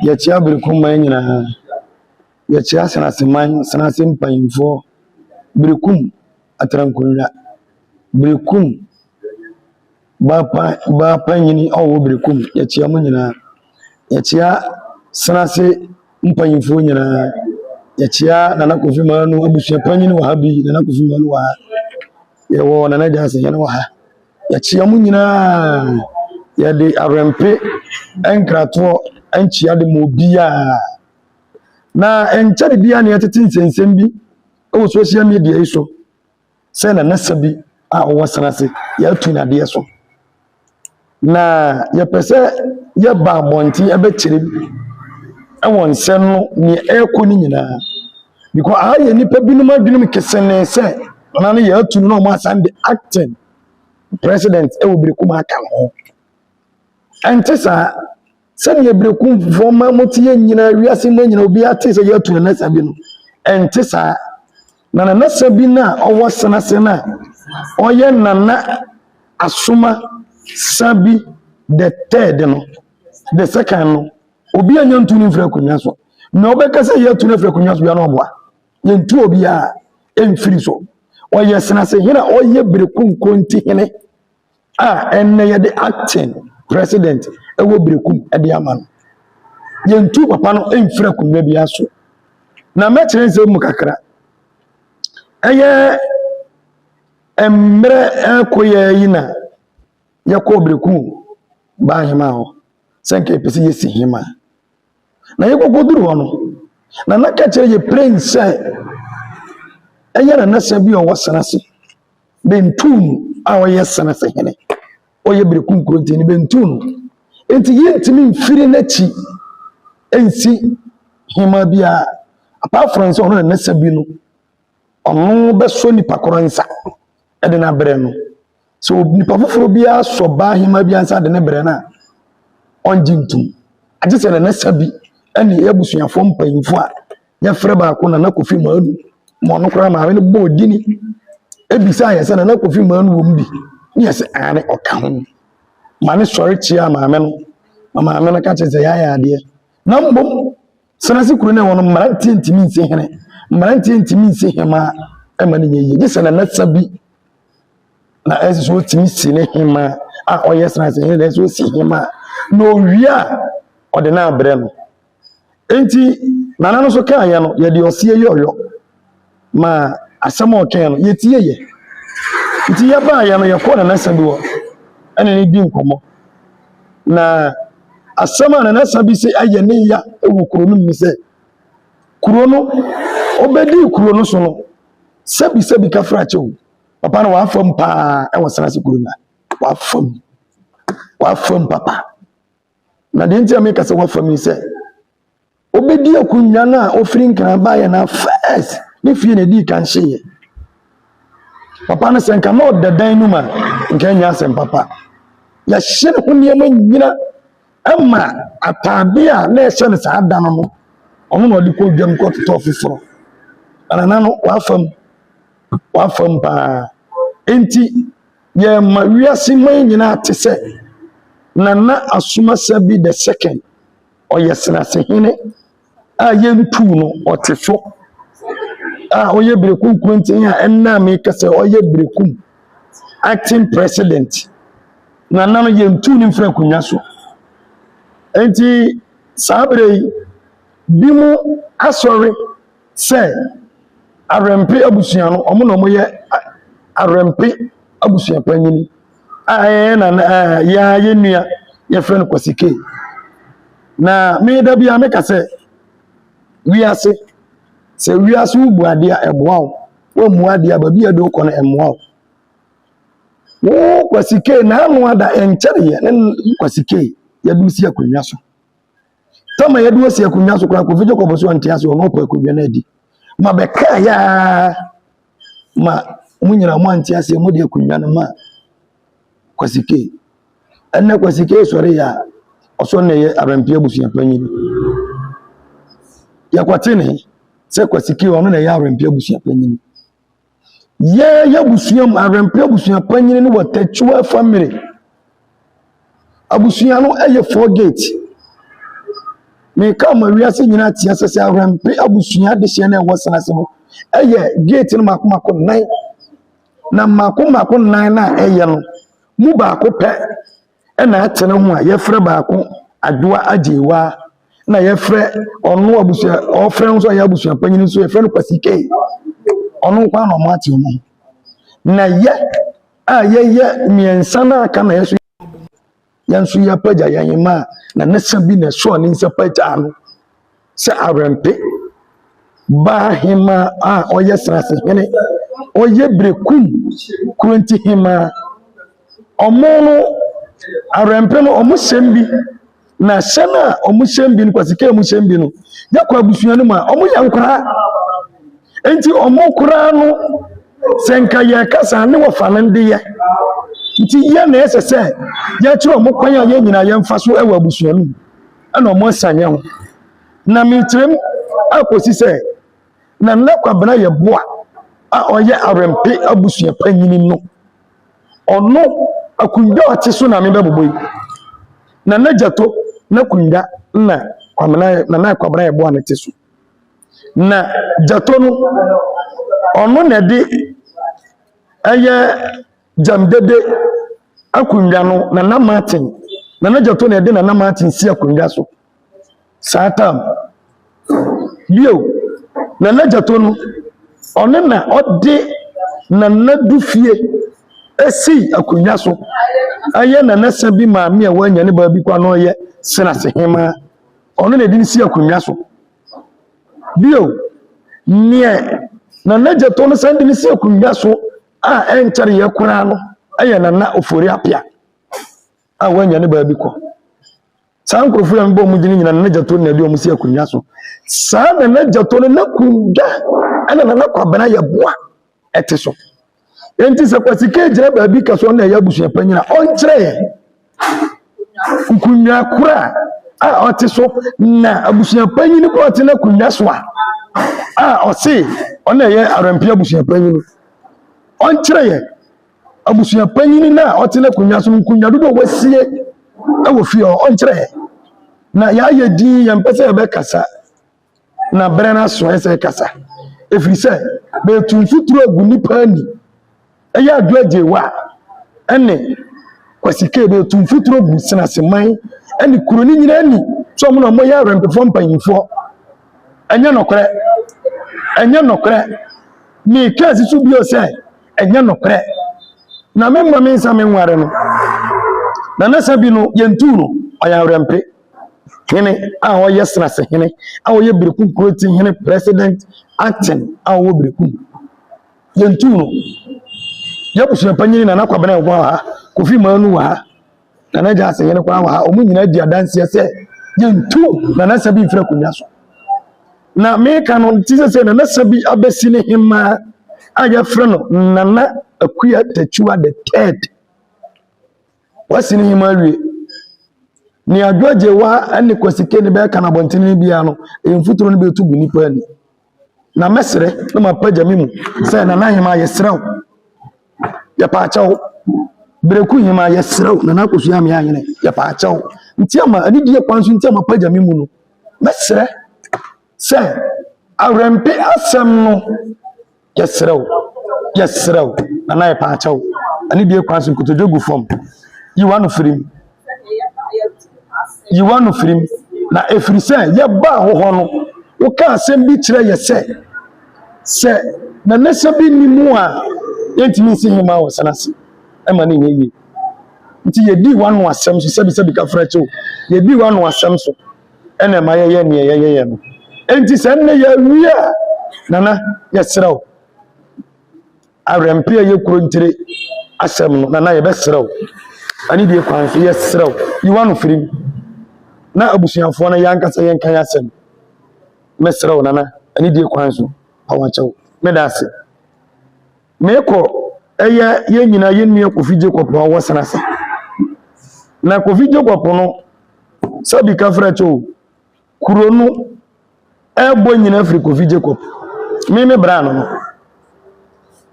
Yɛkyea Berekumman nyinaa. Yɛkyea Sraseman, Srase mpanyimfoɔ, Berekum Atrankonnwa, Berekum Baapan Baapanyini a ɔwɔ Berekum, yɛkyea mo nyinaa. Yɛkyea Srase mpanyimfoɔ nyinaa. Yɛkyea Nana Kofi Manu abusua panyin wɔ ha bi, Nana Kofi Manu wɔ ha. Yɛwɔ Nana Gyasi, yɛne wɔ ha. Yɛkyea mo nyinaa. Yɛde awɛmpe nkratoɔ nkyea de ma obiara. Na nkyɛre biara na yɛtete nsɛnsɛm bi wɔ social media yi so sɛ nanasa bi a ɔwɔ san ase yɛatu nadeɛ so. Na yɛpɛ sɛ yɛba abɔnten ɛbɛkyerɛ bi wɔ nsɛm no nea ɛrekɔ no nyinaa. Because aha yɛ nnipa binom adwenem kesene sɛ Nana no yɛ atu no na wɔn asan de acting president wɔ Berekum aka ho. Ɛnte saa sɛdeɛ Berekumfoɔ ma mote yɛ nyinaa wiase mma nyinaa obi ate sɛ yɛatu Nana Sabi no. Ɛnte saa. Na Nana Sabi no a ɔwɔ Senase no a ɔyɛ Nana Asoma Sabi the third no the second no obi anya ntu no mfiri akonnwa so. Na ɔbɛka sɛ yɛatu no afiri akonnwa so bia na ɔboa. yɛntu obiara mfiri so ɔyɛ senasehene a ɔyɛ berekunko nti hene a ɛnnɛ yɛde acting president ɛwɔ berekum ɛde ama no yɛntu papa no mfiri akonnwa bi aso na mɛkyerɛ nsɛm mu kakra ɛyɛ mmerɛ ɛkɔ yɛ yi na yɛkɔ berekum baa hema hɔ sɛ nka yɛpɛ sɛ yɛsi hema a Na yɛkɔkɔduru hɔ no, Nana ka kyerɛ yɛ plen sɛ ɛyɛ nanasa bi a ɔwɔ Senase, Bentuun a ɔyɛ Senase hene, ɔyɛ Bereku nkurɔntini Bentuun. Enti yɛntumi mfiri n'akyi nsi hema biara, apart from sɛ ɔno nanasa bi no, ɔno bɛsɔ nipa korɔ nsa ɛde no abrɛ no. sɛ nipa foforɔ bi asɔ baa hemaa bi ansa de ne brɛ no a ɔngye ntom agye sɛ nana sa bi ɛne abusuafoɔ mpanyinfoɔ a yɛfrɛ baako nana kofi maanu ma ɔno koraa maame no bɔɔ dini ebisa yɛ sɛ nana kofi maanu wɔm bi ne yɛ sɛ aane ɔka ho ma ne sɔre kyia maame no ma maame no ka kyerɛ sɛ yɛayɛ adeɛ na mmom Senase kuro no ɛwɔ no mmeranteɛ ntumi nsi hene mmeranteɛ ntumi nsi hemaa ɛma no nyɛ yie gye sɛ nanasa bi na ɛsɛ sɛ ɔtumi si ne hemaa a ɔyɛ senase hene na ɛsɛ sɛ ɔsi hemaa na ɔwie a ɔde no abrɛ no nti nana no so kaayɛ no yɛde ɔseɛ yɛ ɔyɔ ma asɛm a ɔkae no, yɛtieeɛ. Nti yɛbaeɛ no, yɛkɔɔ Nana Sabi hɔ ɛne no di nkɔmmɔ. Na asɛm a Nana Sabi se ayɛ ne ya wɔ kuro no mu ne sɛ, kuro no, ɔbɛdii kuro no so no, sɛbi sɛbi ka fra kyɛw. Papa no wafa mu paa ɛwɔ Senase kuro no a, wafa mu, wafa mu papa. Na deɛ nti a meka sɛ wafa mu sɛ obɛdi akonnwa no a ɔfiri nkran baeɛ no first ne fie na ɛdii kan hyeeɛ papa no sɛ nka na ɔda dan no mu a nka ɛnyɛ asɛm papa yɛhyɛ ne ho nneɛma nyina ma ataadeɛ a na ɛhyɛ no saa da no no ɔno na ɔde kɔ dwam kɔtotɔ foforɔ anana no wafam wafam paa nti Yɛma wiase man nyinaa te sɛ Nana Asomasabi the second, ɔyɛ Serasehene a yɛntuu no, ɔte so a ɔyɛ Bereku Nkurenten a ɛnna mekasa ɔyɛ Berekum acting president. Nana no yɛntuu no mfiri akonnwa so. Enti saa bere yi, bi mu asɔre sɛ Awɛmpe abusua no, wɔn na wɔyɛ Awɛmpe abusua panyin a ɛyɛ nana yɛa yɛ nua yɛfrɛ no Kwasi K. Na me da biara meka sɛ wiase sɛ wiase wo bu adeɛ a ɛboa wo wɔmmu adeɛ a baabi a ɛde wokɔ no ɛmmoa wo wo Kwasi K na ano ada ɛnkyɛreɛ ne Kwasi K yɛde si akonnwa so tama yɛde wɔ si akonnwa so koraa kofi jacob so ɔnte ase ɔno ɔpɛ akonnwa no adi ma bɛkaa yaa ma mo nyinaa mo ante ase mo de akonnwa no ma kwasike ɛnna kwasike sɔre yɛ a ɔsɔ na ɛyɛ abɛnpia abusua panyin yɛkɔte ne sɛ kwasike ɔno na ɛyɛ abɛnpia abusua panyin Yɛ yɛabusua mu awɛmpa abusua panyini no wɔ tɛkyua fa mmire. Abusua no yɛ four gate. Meka ma wiase nyina te asɛ sɛ awɛmpa abusua adehyeɛ no ɛwɔ sena se no yɛ gate no mako mako nnan. Na mako mako nnan na ɛyɛ no mu baako pɛ na atsena ho a yɛfrɛ baako Adoa Agyeiwa na yɛfrɛ ɔno abusua ɔfrɛ no nso ɔyɛ abusua panyin nso yɛfrɛ no Kwasi Kay ɔno nko ara na ɔmo ate ɔmo na yɛ a yɛyɛ mmiɛnsa na aka na yɛso yɛn nso yɛapagya yɛn mma a na ne nsa bi na ɛsoɔ ne nsa pagyaa no. sɛ awɛmpe baa hemaa a ɔyɛ saase hene, ɔyɛ berekum kurenti hemaa. Ɔmo no, awɛmpe no ɔmo hyɛm bi, na hyɛ no a ɔmo hyɛm bi no, kwasika a ɔmo hyɛm bi no, yɛkɔ abusua no mu a, ɔmo yɛ nkoraa. Nti ɔmo koraa no, sɛ nka yɛkasa ne wɔfa no ndeyɛ. Nti yɛ na ɛsɛ sɛ yɛkyerɛ ɔmo kwan a yɛn nyinaa yɛmfa so wɔ abusua no mu. na wɔasiane yɛn ho. Na mekyerɛm akɔsi sɛ na Nna Kwabena Yeboah a ɔyɛ Awɛmpe abusua panyin no, ɔno akonnwa a ɔte so na mebɛbobɔ yi. Na n'agya to n'akonnwa na Kwamena na na Kwabena Yeboah no te so. Na Gyato no, ɔno na ɛde ɛyɛ Gyamdede akonnwa no, Nana Martin, Nana Gyatɔ na ɛde Nana Martin si akonnwa so saa tam. Bio, Nana Gyatɔ no, ɔno na ɔde Nana Dufie si akonnwa so. Ɛyɛ Nana Sabi maame a wanya ne baabi kwa na ɔyɛ Senase Hema. Ɔno na ɛde no si akonnwa so. Bio, nea Nana Gyatɔ no san de no si akonnwa so a ɛnkyɛre yɛ koraa no yɛ Nana Ofori Apia a wanya ne baabi kɔ. Saa nkurɔfoɔ yɛn bɔ mu gyina nyina Nana Gyato na ɛde wɔn si akonnwa so. Saa Nana Gyato no na kunda ɛna Nana Kwabena yɛ boa ɛte so. Enti sɛ Kwasi K gyina baabi ka so ɔna ɛyɛ abusuapanyini a ɔnkyerɛ yɛn. nkonnwa koro a a ɔte so na abusua panyin koro a ɔte n'akonnwa so a a ɔse ɔno na ɛyɛ Arampi abusua panyin. Ɔnkyerɛ yɛn abusua panyin no a ɔte n'akonnwa so no nkonnwa dodoɔ a wasie wɔ fie hɔ ɔnkyerɛ yɛn. Na yɛayɛ din yɛmpɛ sɛ yɛbɛkasa na berɛ no aso ɛsɛ ɛkasa ɛfiri sɛ meretu mfuturo agu nnipa ani ɛyɛ adwo agyewa ɛne Kwasi Kay meretu mfuturo gu Senaseman ɛne kuro no nyinaa ani sɛ ɔmo na ɔmo yɛ awɛmpefoɔ mpanyinfoɔ ɛnyɛ nɔkorɛ ɛnyɛ nɔkorɛ meka asi so bio sɛ ɛnyɛ nɔkorɛ na memma me nsa menware no na nasa bi no yɛntuu no ɔyɛ awɛmpe Hene a ɔyɛ Serase hene a ɔyɛ Berekum kuro ti hene president acting a ɔwɔ Berekum. Yɛntu no. Yɛabusua panyin Nana Kwabena wɔ ha, Kofi Manu wɔ ha, Nana Gyasi hene koraa wɔ ha. Wɔn nyinaa di adanseɛ sɛ yɛntu Nana Sabi mfiri akonnwa so. Na meka no ti sɛ sɛ Nana Sabi abɛsi ne hemaa a yɛfrɛ no Nana Akua Tatua the third Wasi ne hema awie. Nea George Weah ne Kwesi Kane bɛka no abɔnten no biara no, ɛyɛ mfuturo no bɛtu gu nnipa ani. Na mɛsrɛ na mapagya me mu sɛ Nana Hema yɛsrɛ wo, yɛpaakyɛ wo. Bereku Hema yɛsrɛ wo, Nana Akosua Amea Ahene yɛpaakyɛ wo. Nti ama anidie kwan so nti a mapagya me mu no, mɛsrɛ sɛ, Awurɛmpe asɛm no, yɛsrɛ wo, yɛsrɛ wo, nana yɛpɛ akyɛ wo. Ɛne deɛ kwan so nkotodwe gu fam. Yi w'ano firi mu. Yi w'ano firi mu. Na ɛfiri sɛ yɛbaa wo hɔ no, woka asɛm bi kyerɛ yɛ sɛ, sɛ nana sɛ bi nni mu a, yɛntumi nsi hema wɔ sena ase. Ɛma no nyɛ yie. Nti yɛdii w'ano asɛm so, sɛbisɛbi ka frɛ kyɛw, yɛdii w'ano asɛm so. ɛna ɛma yɛyɛ neɛ yɛyɛyɛ no enti sɛ nnɛ yɛawie a nana yɛserɛ wo awerɛmpe a ɛyɛ kuro ntire asɛm no nana yɛbɛserɛ wo ɛne deɛ kwan so yɛserɛ wo yiwa no firim na abusuafoɔ no yɛankasa yɛnka yɛ asɛm mɛserɛ wo nana ɛne deɛ kwan so awakyɛw meda ase Mekɔ ɛyɛ yɛn nyinaa yɛn nua Kofi Jacob a ɔwɔ Senase. Na Kofi Jacob no sɛbi ka frɛ kyɛ o kuro no ɛbɔ nyinaa firi Kofi Jacob. Me me bra no no.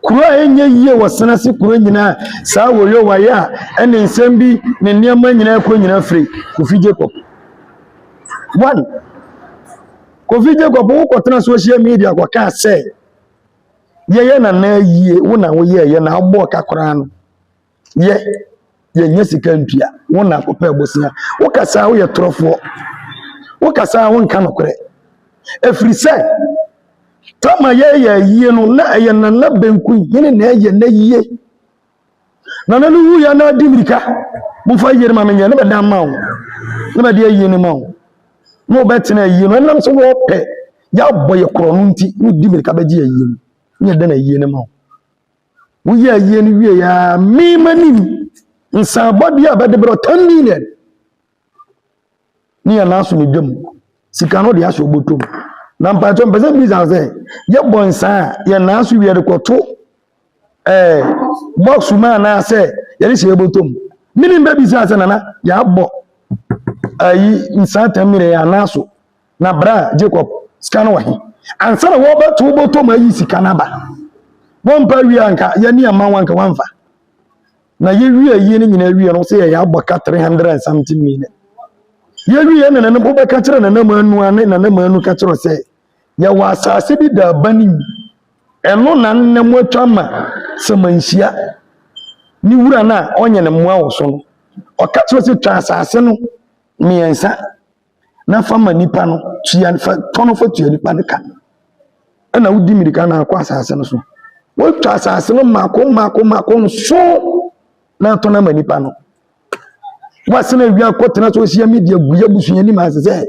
Kuro a ɛnyɛ yie wɔ Senase kuro nyinaa saa wɔyɛ wɔayɛ a ɛne nsɛm bi ne nneɛma nyinaa kɔ nyinaa firi Kofi Jacob. One, Kofi Jacob wokɔtena social media kɔkaa sɛ Yɛyɛ nana ayie wo na woyɛɛyɛ na wobɔɔ ka koraa no yɛ yɛnyɛ sika ntua wo na wopɛ bosea wokasaa woyɛ torɔfoɔ wokasaa wonka nokorɛ ɛfiri sɛ tama yɛyɛ ayie no na ɛyɛ nana benku hene na ɛyɛ n'ayie Nana no wuiɛ na adi mmirika momfa ayie no ma menyɛ ne bɛda ma wo ne bɛde ayie no ma wo na wɔbɛtena ayie no ɛnam sɛ wɔpɛ yɛabɔ yɛ korɔ no nti na ɔdi mmirika bɛgye ayie no ne yɛda no ayie no ma wo woyɛ ayie no wie a mema nim nsan bɔdeɛ a bɛde berɛ 10 million ne yɛn nan so ne dwam sika no de ahyɛ ɔbɔtɔ mu na mpatsɔ mpɛ sɛ bisa sɛ yɛbɔ nsaa a yɛn nan so wie rekɔto ɛɛ bɔks mu anaasɛ yɛde hyɛ ɔbɔtɔ mu mene mbɛ bisa sɛ nana yɛabɔ ayi nsaa tam mene yɛn nan so na bra jacob sika no wɔ he ansa na wɔbɛto ɔbɔtɔ mu ayi sika no aba wɔmpa wie anka yɛne ɛma wanka wanfa na yɛwie ayie no nyinaa wie no sɛ yɛyɛ abɔka 300 and something million yɛwie na nana mpo bɛka kyerɛ nana mu anu ane nana mu anu ka kyerɛ sɛ yɛwɔ asase bi da aba no mu ɛno na nna mu atwa ma sɛmanhyia ne wura no a ɔnyɛ ne mmoa wɔ so no ɔka kyerɛ sɛ twa asase no mmiɛnsa na fa ma nipa no tua fa tɔ no fa tua nipa no ka ɛna wodi mirika na akɔ asase no so wotwa asase no mmaako mmaako mmaako nso na atɔ no ama nipa no wasena awia kɔtena so ɔsia media gu yɛ busua anim ase sɛ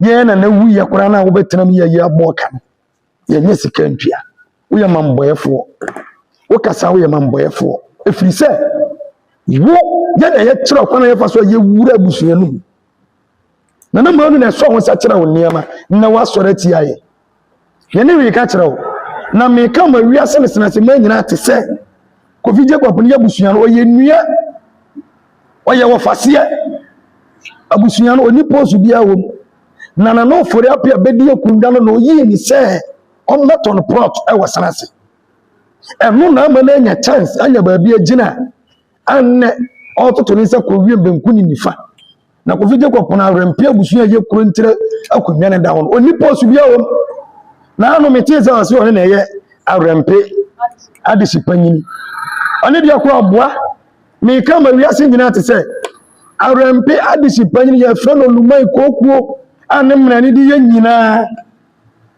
yɛn na na wuyɛ koraa na wobɛtena mu yɛyɛ abɔ ka no yɛnyɛ sika ntua woyɛ ma mmɔyɛfoɔ wokasa woyɛ ma mmɔyɛfoɔ ɛfiri sɛ wo yɛna yɛkyerɛ ɔkwan a yɛfa so a yɛwura abusua no mu na na mmara no na ɛsɔ ho sɛ kyerɛ wo nneɛma na woasɔre atia yɛ yɛne reka kyerɛ wo na meka ma wiase ne senase ma nyinaa te sɛ kofi jacob no yɛ abusua no ɔyɛ nnua ɔyɛ wɔfaseɛ abusua no ɔni pose biara wɔ mu na Nana Ofori Apia bɛdi akonnwa no na ɔyii ne sɛ ɔmmɛtɔ no plot wɔ Sena ase. Ɛno na ama no anya chance anya baabi agyina a nnɛ ɔretoto ne nsa kɔ wiem benku ne nifa. Na Kofi Jacob pono awɛmpe abusua a ɛyɛ kuro nkyerɛ akonnwa no da ho no, ɔnni post biara wɔ mu. Na ano metee sɛ ɔse ɔno na ɛyɛ awɛmpe adehye panyin. Ɔne deɛ koro aboa. Meka ma wiase nyinaa te sɛ Awurɛmpe adehye panyin yɛfrɛ no Lumai Kokuo a ne mmara ne de yɛ nyinaa.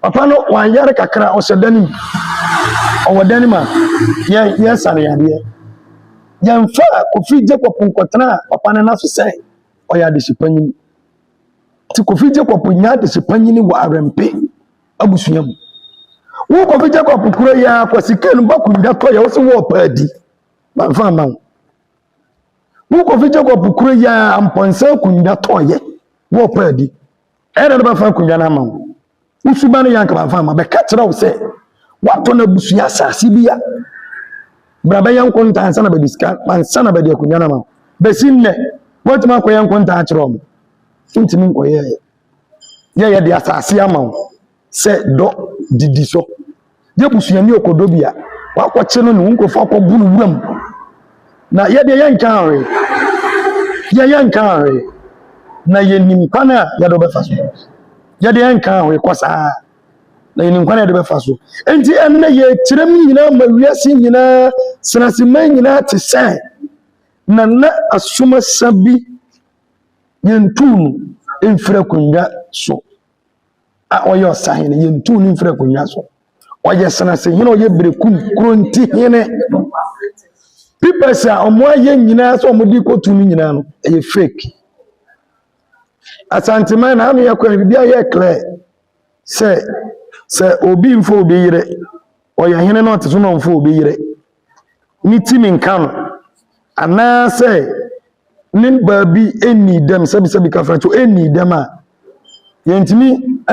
Papa no wayare kakra ɔhyɛ dan mu. Ɔwɔ dan mu a yɛ yɛsa ne yadeɛ. Yɛmfa Kofi Jacob nkɔtena papa no n'aso sɛ ɔyɛ adehye panyin. Ti Kofi Jacob nya adehye panyin wɔ Awurɛmpe abusua mu. Wo Kofi Jacob kuro yi a kwasi kan bakunda tɔ yɛ wo se wɔ paadi. Mamfa amma wo. Wo Kofi Jacob kura yi a mpɔnsa akonnwa tɔɔyɛ wɔ paadi. Ɛyɛ na bɛfa akonnwa no ama wo. Wo suba no yɛ anka mamfa amma. Bɛka kyerɛ wo sɛ woatɔ no abusua asase bi a bra bɛyɛ nkontaa ansa na bɛde sika ansa na bɛde akonnwa no ama wo. Bɛsi nnɛ woatumi akɔyɛ nkontaa akyerɛ wɔn. Wontumi nkɔyɛɛ yɛyɛ de asase ama wo. sɛ dɔ didi so yɛ busuani ɔkɔdɔ bi a wakɔkye no ne wo nkurɔfo akɔbu no wuram na yɛdeɛ yɛnka ahwe yɛ yɛnka ahwe na yɛnim kwan a yɛde bɛfa so yɛdeɛ yɛnka ahwe kɔ saa na yɛnim kwan a yɛde bɛfa so enti ɛnnɛ yɛkyerɛm nyinaa ma wiase nyinaa senaseman nyinaa te sɛ na na asomasa bi yɛntuu no mfiri akonnwa so a ɔyɛ ɔsahene yɛntu no mfiri akonnwa so ɔyɛ senasehene ɔyɛ berekum kuronti hene pipɛs a wɔayɛ nyinaa sɛ wɔde kɔtu no nyinaa no ɛyɛ fake asanteman na ano yɛ kwan biribi ayɛ clear sɛ sɛ obi mfa obi yere Ɔyɛ hene no ɔte so nɔmfo a obi yere ne timi nka no anaasɛ ne baabi ɛnnii dɛm sɛbisɛbi ka fira kyɛ ɛnnii dɛm a yɛntumi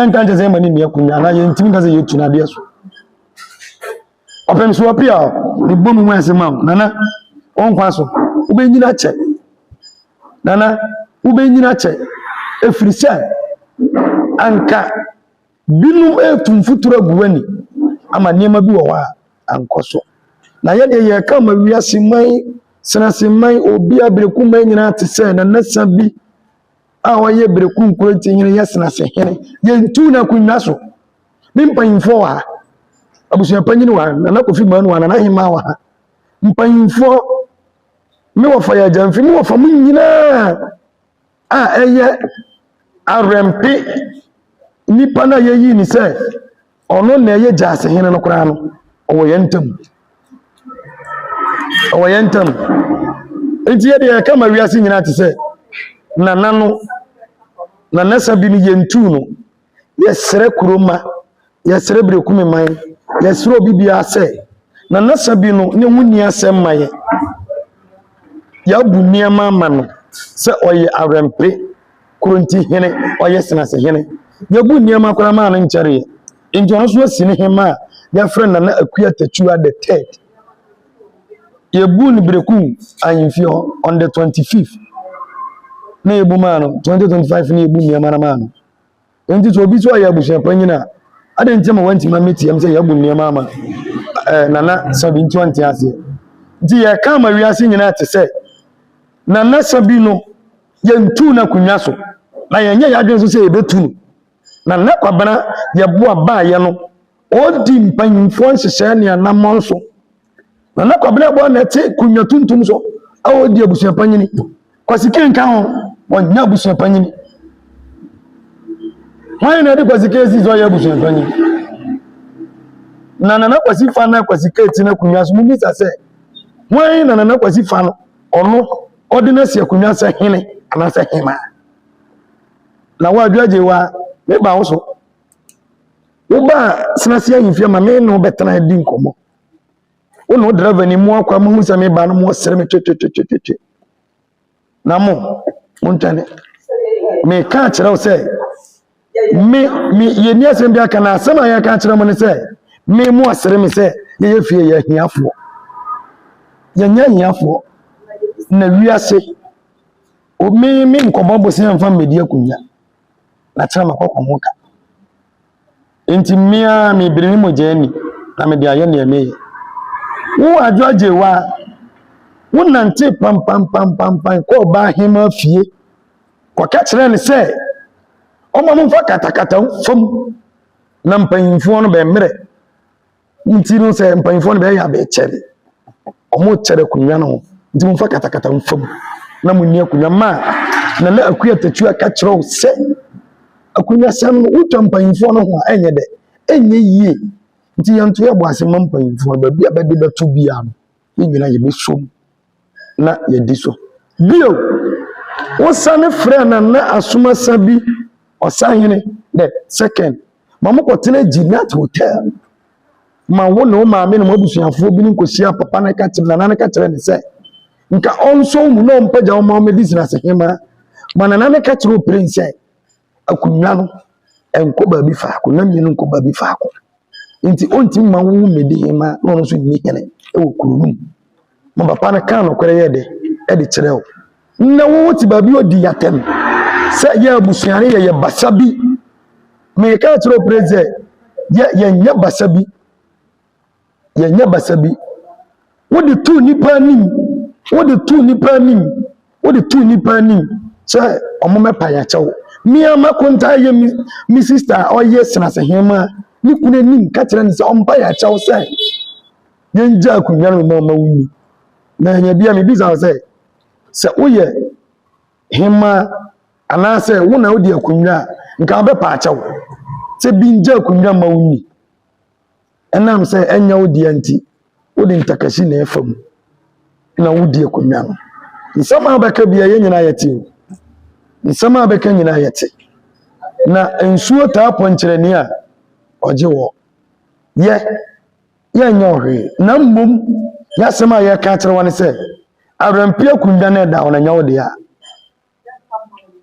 nka nkyɛ sɛ ɛma ne nni akonnwa anaa yɛntumi nka sɛ yɛtu n'adeɛ so ɔpɛm so apia ne bɔ mu ase ma nana ɔnkwa so wobɛnyina kyɛ nana wobɛnyina kyɛ ɛfiri sɛ anka Binom retu mfuturo agu w'ani ama nneɛma bi wɔ hɔ a ankɔ so. Na yɛdeɛ yɛka ma wiase man, serase man, obi a bereku man nyinaa te sɛ nanasa bi a ɔyɛ bereku nkuranti hene yɛ serase hene. Yɛntu no akonnwa so. Me mpanyimfoɔ wɔ ha. Abusua panyin wɔ ha. Nana Kofi Manu wɔ ha. Nana Hema wɔ ha. Mpanyimfoɔ me wɔfa yɛ agya mfe me wɔfa mo nyinaa a ɛyɛ awɛmpe nipa no a yɛyi ne sɛ ɔno na ɛyɛ gyaase hene no koraa no ɔwɔ yɛn ntam ɔwɔ yɛn ntam nti yɛ deɛ ɛka ma wiase nyinaa te sɛ nana no nanasa bi no yɛntuu no Yɛsrɛ kuro mma, yɛsrɛ Berekumi man, yɛsrɛ obi biara sɛ Nana Sabi no ne ho nni asɛm ma yɛn. Yɛabu nneɛma ama no sɛ ɔyɛ awɛmpe, kuronti hene, ɔyɛ senase hene. Yɛbu nneɛma koraa maa no nkyɛreɛ. Nti ɔno nso asi ne hema a yɛfrɛ Nana Akua Tatua the third. Yɛbu no Berekum ahemfie hɔ on the 25th na yɛbu maa no 2025 na yɛbu nneɛma no maa no. Enti sɛ obi sɛ ɔyɛ abusua panyin a, adɛn nti ma wantumi ammetie m sɛ yɛabu nneɛma ama eh, Nana Sabi nti ɔnte aseɛ. Nti yɛka ama wiase nyinaa te sɛ Nana Sabi no yɛntuu no akonnwa so na yɛnyɛ yɛadwene nso sɛ yɛbɛtu no. Nana Kwabena yɛboa baayɛ no Ɔredi mpanyimfoɔ nhyehyɛɛ ne anammɔn so. Nana Kwabena Abuah na ɛte Kunya Tuntum so a ɔredi abusua panyini. Kwasi Kane ka ho, wɔnyɛ abusua panyini. Hwan na ɛde Kwasi Kane si so ɔyɛ abusua panyini? Na Nana Kwasi fa na Kwasi Kane te n'akonnwa so. Mumisa sɛ, hwan na Nana Kwasi fa no ɔno ɔde no asi akonnwa sɛ hene anaasɛ hemaa? Na woadwo agye wa, meba wo so. Wobaa Senase Ahemfie ma me ne wo bɛtena di nkɔmmɔ. Wo ne wo driver ni mu akwa mu hu sɛ me ba no mu ɔsere me twetwetwetwetwe. Na mo, mo ntwɛne. Me ka kyerɛ wo sɛ, me, me, yɛnni asɛm bi aka na asɛm a yɛka kyerɛ mo ne sɛ, me mu ɔsere me sɛ yɛyɛ fie yɛ ahiafoɔ. Yɛnyɛ ahiafoɔ. Na wiase, me, me nkɔbɔ bosea mfa mmɛdi akonnwa. na kyerɛ ma kɔkɔ ho ka. Enti mmea mebiri me mogya ani na mede ayɛ nea meyɛ. Wo adwo agye wo a, wonante pampampampampan kɔɔ baa hema fie kɔka kyerɛɛ no sɛ ɔma momfa katakata fam na mpanyimfoɔ no bɛmmerɛ. Ne nti no sɛ mpanyinfoɔ no bɛyɛ abɛɛ kyɛn wɔn kyɛn akonnwa no ho nti mo nfa katakata nfa mu na mo ni akonnwa maa na na akua tatua ka kyerɛ wo sɛ akonnwa sɛm no wotwa mpanyinfoɔ no ho a ɛnyɛ dɛ ɛnyɛ yie nti yɛn to yɛ bɔ ase ma mpanyinfoɔ no baabi a bɛde bɛto biara no. yɛn nyinaa yɛbɛsom na yɛadi so. Bio, wosane frɛɛ Nana Asomasa bi Ɔsahene the second ma mokɔtena Ginat Hotel ma wo ne wo maame ne mo abusuafoɔ binom kɔhyiaa papa no ka kyerɛ Nana no ka kyerɛ ne sɛ nka ɔnsɔ wo mu na ɔmpagya wo ma ɔmmɛdi Zinase Hema ma Nana no ka kyerɛ Opreng sɛ akonnwa no nkɔ baabi faako na mmienu nkɔ baabi faako. Nti ɔntumi mma wɔn mmɛdi hema na ɔno nso nni hene wɔ kuro no mu. Ma papa no kaa nokorɛ yɛ dɛ ɛde kyerɛ wo. Na wɔwɔ te baabi ɔdi yɛatɛm sɛ yɛ abusua no yɛyɛ basa bi. Meka kyerɛ wo pere sɛ yɛ yɛnyɛ basa bi. yɛnyɛ basa bi. Wode tu nnipa anim, wode tu nnipa anim, wode tu nnipa anim sɛ wɔmmɛpa yɛn akyɛw. Me ara m'akontaa yɛ me me sista a ɔyɛ senase hema ne kunu anim ka kyerɛ no sɛ ɔmpa yɛn akyɛw sɛ yɛngya akonnwa no ma ɔma wo nni. Na ɛnyɛ bia mebisa wo sɛ sɛ woyɛ hema anaasɛ wo na wodi akonnwa a nka wobɛpa akyɛw sɛ bi ngya akonnwa ma wo nni. Ɛnam sɛ ɛnyɛ wo dea nti, wode ntakasi na ɛfa mu na wodi akonnwa no. Nsɛm a bɛka bia yɛn nyinaa yɛte o. Nsɛm a bɛka nyinaa yɛte. Na nsuo taa pɔnkyerɛni a ɔgye wɔ. Yɛ, yɛnyɛ ɔhwee. Na mmom, yɛasɛm a yɛka akyerɛ wɔ ne sɛ, awerɛmpe akonnwa no ɛda hɔ na ɛnyɛ wo dea.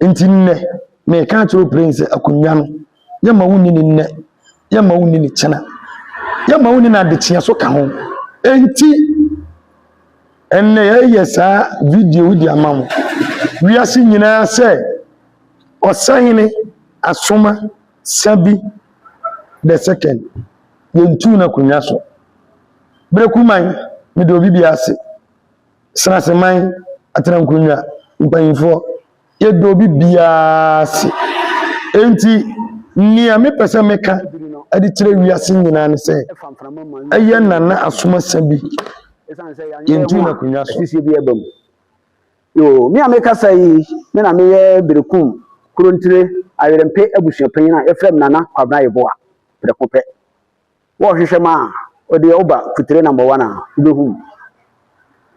Nti nnɛ, meka akyerɛ Oprɛn sɛ akonnwa no, yɛmma wonni ne nnɛ, yɛmma wonni ne kyena, yɛmma wonni no adekyea so ka ho. Nti, ɛnnɛ yɛyɛ saa video yi de ama mo. Wiase nyinaa sɛ, ɔsahene asoma sa bi the second, yɛntuu no akonnwa so. Berekuman, mede obi bi ase. Sraseman atenankonnwa mpanimfoɔ, yɛda obi biara ase. Enti, nea mepɛ sɛ meka de kyerɛ wiase nyinaa ne sɛ, ɛyɛ Nana Asomasa bi. Yɛntu no akonnwa so. Asisie bi aba mu. Yoo, me a mekasa yi, me na meyɛ Berekum Kurontire Ayerɛmpe abusuapanyin a yɛfrɛ me Nana Kwabena Yeboah prɛko pɛ. Wɔ hwehwɛ maa ɔdeɛ woba kutire number one a wobɛhu mu.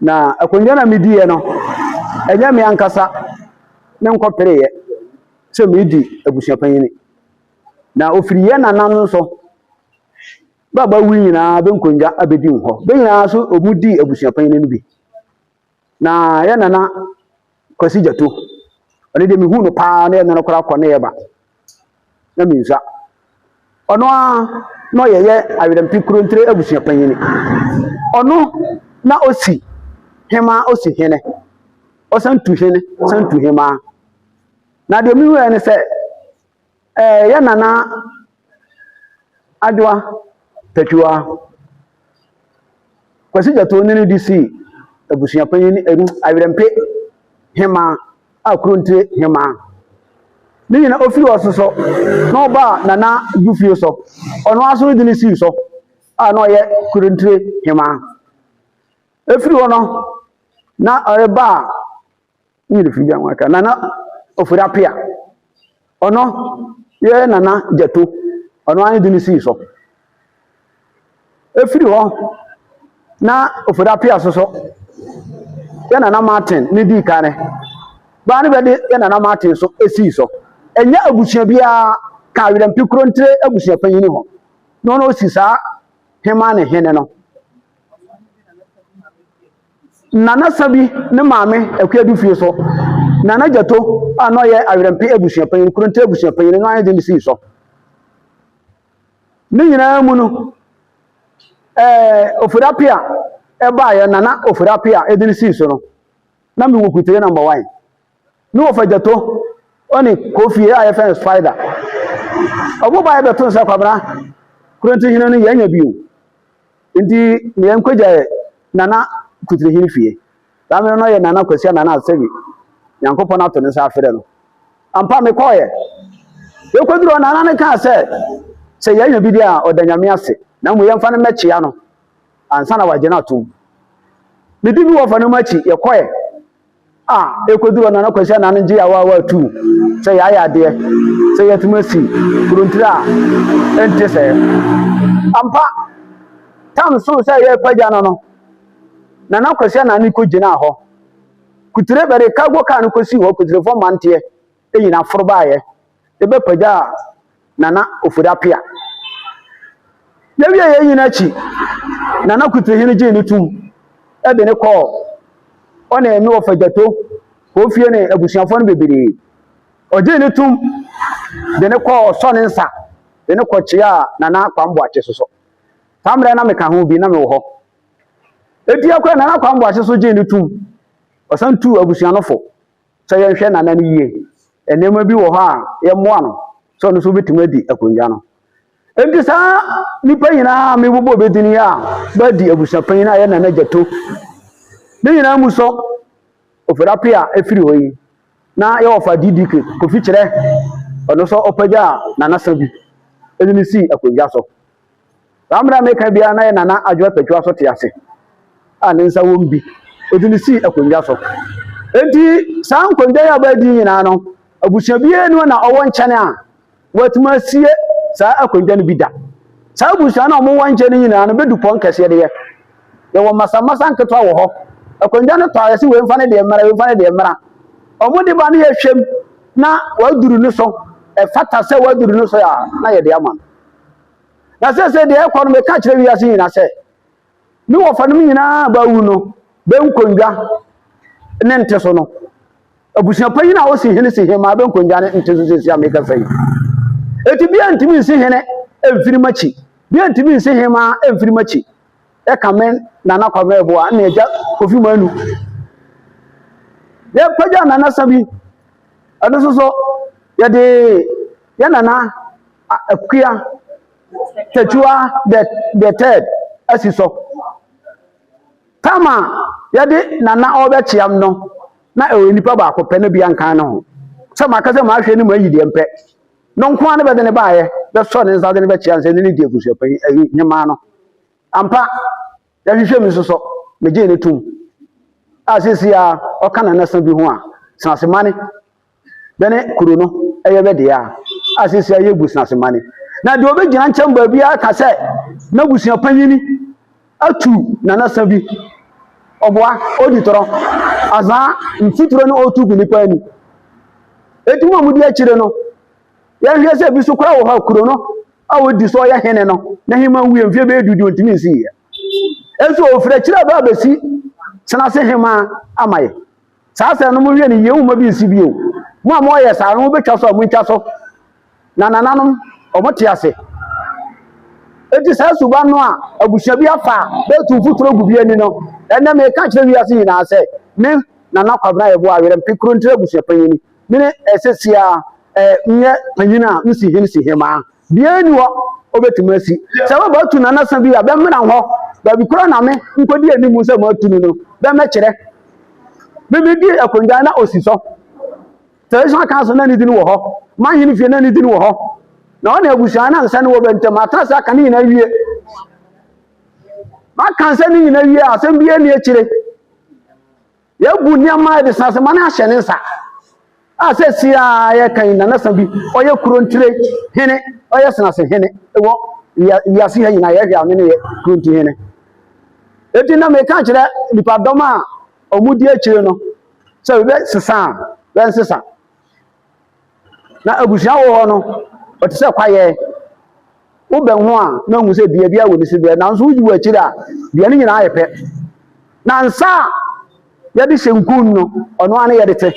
Na akonnwa na mediiɛ no ɛnyɛ me ankasa ne nkɔ pereeɛ sɛ medi abusuapanyini. Na ofiri yɛ nana no nso bɛba wi nyinaa bɛnkonnwa abɛdi hɔ. Bɛ nyinaa nso wɔdi abusuapanyini no bi. Na yɛn nana Kwasi Gyato, ɔno deɛ mehu no paa na yɛn nana koraa kɔ ne yɛ ba na mensua. Ɔno a na ɔyɛyɛ Awerɛmpi Kurontire abusua panyin. Ɔno na ɔsi hemaa ɔsi hene, ɔsan tu hene, ɔsan tu hemaa. Na deɛ mehu yɛ ne sɛ, Ɛɛ yɛ nana adwoa takiwa kwasi gyatoo ne no di sii abusua panyin ɛnu awerɛmpe hemaa a kuro ntire hemaa ne nyina ofiri hɔ soso na ɔba nana dufie so ɔno aso no di ne sii so a na ɔyɛ kuro ntire hemaa efiri hɔ no na ɔreba a ne yere firi bi anwa ka nana ofori apia ɔno yɛ nana gyato ɔno ara ne de ne sii so efiri hɔ na ofori apia soso yɛ nana martin ne di kan ne baa ne bɛ de yɛ nana martin so esii so ɛnyɛ abusua biara ka awerɛmpi kuro ntire abusua panyin hɔ na ɔno osi saa hema ne hene no. Na na Sabi ne maame akua du fie so, na na Gyato a na ɔyɛ Awerɛmpe abusuapanyin, Nkoronte abusuapanyin, no ayɛ den de sii so. Ne nyinaa mu no, ɛɛ Ofori Apea ɛbaeɛ, Nana Ofori Apea ɛde no sii so no, na mewɔ Kuteɛ Number One. ne wɔfa gyato ɔne kofie a yɛfɛn spider ɔmo ba yɛbɛto nsa kwabena kurɔnti hene no yɛnya bio nti ne yɛn kɔgya nana kutiri hene fie saa mmerɛ no yɛ nana kwasia nana asɛbi nyankopɔn ato ne nsa afrɛ no ampa mekɔɔyɛ yɛkɔduru hɔ nana no kaa sɛ sɛ yɛnya bi deɛ a ɔda nyame ase na mmom yɛmfa no mmɛkyea no ansa na wagye no atom medi bi wɔfa no mu akyi yɛkɔɛ a ɛkɔduru ɔno ano kɔsi anaa no gye yɛawa awa tu sɛ yɛayɛ adeɛ sɛ yɛatumi asi kurontiri a ɛnte sɛɛ ampa tam so sɛ yɛrepagya no no nana kɔsi anaa no kɔgyinaa hɔ kutire bɛde cargo car no kɔsii hɔ kutirefo manteɛ ɛnyina foro baeɛ yɛbɛpagyaa Nana Ofori Apea. Yɛwie yei nyina akyi, Nana Kuti Hene gyee ne tum de ne kɔɔ ɔne me wɔfa Gyato Kofie ne abusuafoɔ no bebree. Ɔgyee ne tum de ne kɔɔ sɔ ne nsa de ne kɔkyeaa Nana Kwame Boakye so so. Saa mmerɛ na meka ho bi na mewɔ hɔ. Ɛti akora Nana Kwame Boakye so gyee ne tum, ɔsan tuu abusua no fo. sɛ yɛnhwɛ Nana no yie. Nneɛma bi wɔ hɔ a yɛmmoa no sɛ ɔno nso bɛtumi adi akonnwa no. Enti saa nnipa nyinaa a mebobɔ bi din yi a bɛadi abusuapanyin a ɛyɛ Nana Gyato ne nyinaa mu sɔ ofirape a ɛfiri hɔ yi na yɛwɔ fa DDK Kofi kyerɛ ɔno nso ɔpagya a nanasa bi ɛde no sii akonnwa so. Saa mmerɛ a mereka biara na yɛ Nana Adwoa Takyiwa so te ase a ne nsa wom bi. Ɔde no sii akonnwa so. Enti saa nkonnwa yi a wɔadi nyinaa no, abusua biara ni hɔ na ɔwɔ nkyɛn a wɔatumi asie saa akonnwa no bi da. Saa abusua no a wɔwɔ nkyɛn no nyinaa no bɛdu pɔn kɛseɛ deɛ. Yɛwɔ masammasa nketewa wɔ hɔ. Akonnwa no tɔ a yɛse wɔmfa no deɛ mmara, wɔmfa no deɛ mmara. Wɔn de ba no yɛhwɛm na wɔaduru no so. Ɛfata sɛ wɔaduru no so a na yɛde ama no. na seesei deɛ ɛkɔ no meka kyerɛ wiase nyinaa sɛ me wɔfanom nyinaa baawu no bɛnkondwa ne nte so no abusua panyin a ɔsi hene si hene maa bɛnkondwa ne nte so seesei a meka sɛ yi eti bia ntumi nsi hene mfiri makyi bia ntumi nsi hene maa mfiri makyi ɛka me nana kwame ɛboa ne agya kofi manu yɛpagya nana sa bi ɛno nso so yɛde yɛ nana Akua Tetewa the the third asi so. Tam a yɛde Nana a ɔrebɛkyeam no, na ɛyɛ nipa baako pɛ, na bi ankan ne ho. Sɛ maka sɛ mahwɛ ne mu ayi deɛ mpɛ. No nko ara ne bɛde ne baeɛ bɛsɔ ne nsa de ne bɛkyeam sɛ ne ne di abusuapanyin ayi hemaa no. Ampa, yɛhwehwɛ mu nso so, megyee ne tom. A seesei a ɔka Nana sa bi ho a, Senase Mane Bɛne kuro no yɛ bɛ dea, a seesei ayɛ abusuase mane. Na deɛ ɔbɛgyina nkyɛn baabiara aka sɛ n'abusua panyini atu nanasa bi, ɔboa, ɔdi torɔ, azaa, mfuturo na ɔtu gu nipa ani. Eti mu a mudi akyire no, yɛhwɛ sɛ ebi so koraa wɔ hɔ a kuro no a ɔdi so ɔyɛ hene no, n'ahema nwie mfeɛ bɛyɛ du deɛ ɔntumi nsiiɛ. Nso ɔfiri akyire a ɛbɛ abɛsi tena ase hema ama yɛ. Saa asɛm no monhwɛ no yie momma bi nsi bio. Mo a moyɛ saa no mobɛtwa so a montwa so. Na nananom wɔte ase. Enti saa suban no a abusua bi afa a bɛtu mfuturo gu bi ani no, ɛnɛ meka kyerɛ wiase nyinaa sɛ me Nana Kwabena Yeboah Awerɛmpe Kurontire abusuapanyin Me ne ɛsɛ sia ɛ nyɛ panyin a me si hene si hemaa. Biaa ni hɔ ɔbɛtumi asi. Sɛ bɛ bɛtu nanasa bi a, bɛ mmena hɔ. Baabi koraa na me nkɔdi anim sɛ matu no no, bɛ mmɛkyerɛ. Me me di akonnwa na ɔsi sɔ. Traditional council na ne din wɔ hɔ. Manhene fie na ne din wɔ hɔ. Na ɔne abusua na nsɛne wɔ bɛ ntam. Atena ase aka ne nyinaa wie. Maka nsɛne nyinaa wie a, asɛm biaa ni akyire. Yɛagu nneɛma a ɛde san ase ma no ahyɛ ne nsa a sɛsi a yɛka yi nanasa bi ɔyɛ kuro ntire hene ɔyɛ senase hene wɔ wiase ha nyinaa yɛhwɛ a ɔno ne yɛ kuro ntire hene eti na meka kyerɛ nipadɔm a wɔn di akyire no sɛ bɛsesa bɛnsesa Na abusua wɔ hɔ no, ɔte sɛ kwaeɛ. Wobɛn ho a na wohu sɛ dua biara wɔ ne sibea, nanso woyi wɔ akyiri a dua no nyinaa yɛ pɛ. Na nsa a yɛde hyɛ nkun no, ɔno ara ne yɛde te.